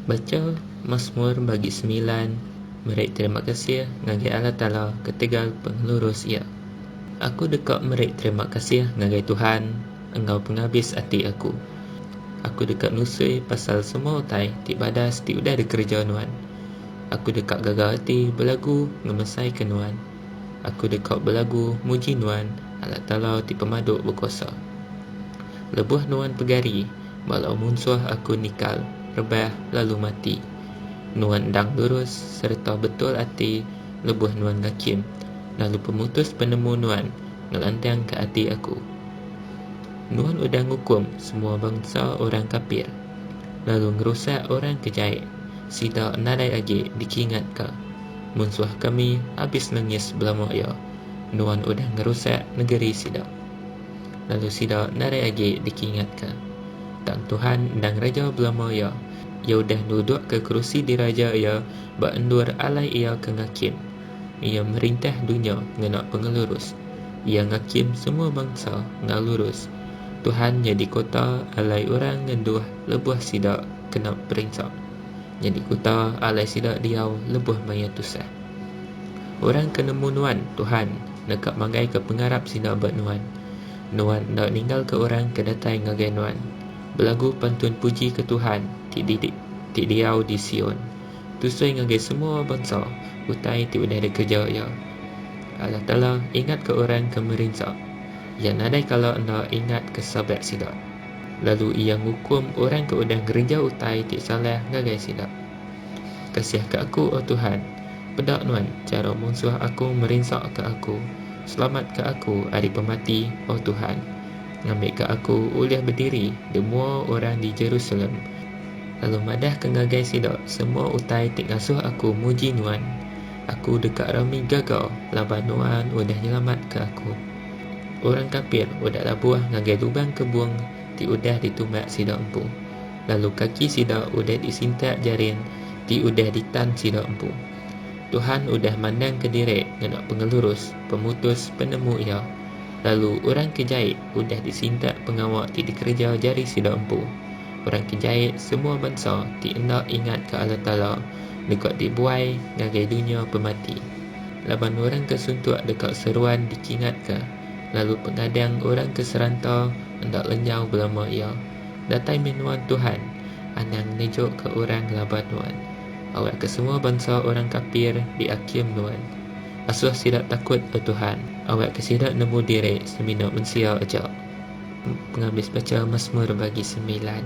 Bacha Masmur bagi semilan Meri terima kasih ngagai Allah Taala ketegal pengelurus Iya. Aku deka meri terima kasih ngagai Tuhan enggau pengabis ati aku. Aku deka nusui pasal semua utai ti badas ti udah dikereja Nuan. Aku deka gaga ati belagu ngemesaika Nuan. Aku deka belagu muji Nuan, Allah Taala ti pemadu bekuasa. Lebuh Nuan pegari, bala munsuh aku nikal, rebah, lalu mati. Nuan endang lurus sereta betul ati lebuh Nuan ngakim, lalu pemutus penemu Nuan ngelantangka ati aku. Nuan udah ngukum semua bansa orang kapir, lalu ngerusak orang ke jai, sida nadai agi dikingatka. Munsuh kami abis nengis belama iya, nuan udah ngerusak negeri sida. Lalu sida narai agi dikingatka, Tang Tuhan endang raja belama iya, iya udah nudukka kerusi diraja iya ba endur alai iya ke ngakim. Iya merintah dunya ngena pengelurus, iya ngakim semua bangsa enggau lurus. Tuhan nyadi kota alai orang ngenduh lebuh sida kena perinsa. Nyadi kuta alai sida diau lebuh maya tusah. Orang ke nemu Nuan, Tuhan, neka manggaika pengarap sida ba Nuan. Nuan enda ninggalka orang ke datai ngagai Nuan. Belagu pantun puji ke Tuhan, ti di ti diau di Sion. Tusoi ngagai semua bansa utai ti udah dikereja Iya. Allah Taala ingatka orang ke merinsa. Iya nadai kala enda ingatka sabat sida. Lalu Iya ngukum orang ke udah ngereja utai ti salah ngagai sida. Kasihka aku, O Tuhan! Peda Nuan chara munsuh aku merinsaka aku, selamatka aku ari pemati, O Tuhan! Ngambika aku ulih bediri di mua orang di Jerusalem, lalu madahka ngagai sida semua utai ti ngasuh aku muji Nuan. Aku deka rami gaga laban Nuan udah nyelamatka aku. Orang kapir udah labuh ngagai lubang kebung ti udah ditumbak sida empu, lalu kaki sida udah disintak jaring ti udah ditan sida empu. Tuhan udah mandang ke diri ngena pengelurus, pemutus, penemu Iya, lalu orang ke jait udah disintak pengawa ti dikereja jari sida empu. Orang ke jait semua bansa ti enda ingatka Allah Taala deka dibuai ngagai dunya pemati. Laban orang ke suntuk deka seruan dikingatka, lalu pengadang orang ke seranta enda lenyau belama iya. Datai meh nuan, Tuhan, anang nejukka orang laban nuan. Awakka semua bansa orang kapir diakim nuan. Asuh sida takut, O Tuhan. Awakka sida nemu diri semina mensia aja. Pengabis baca Masmur bagi semilan.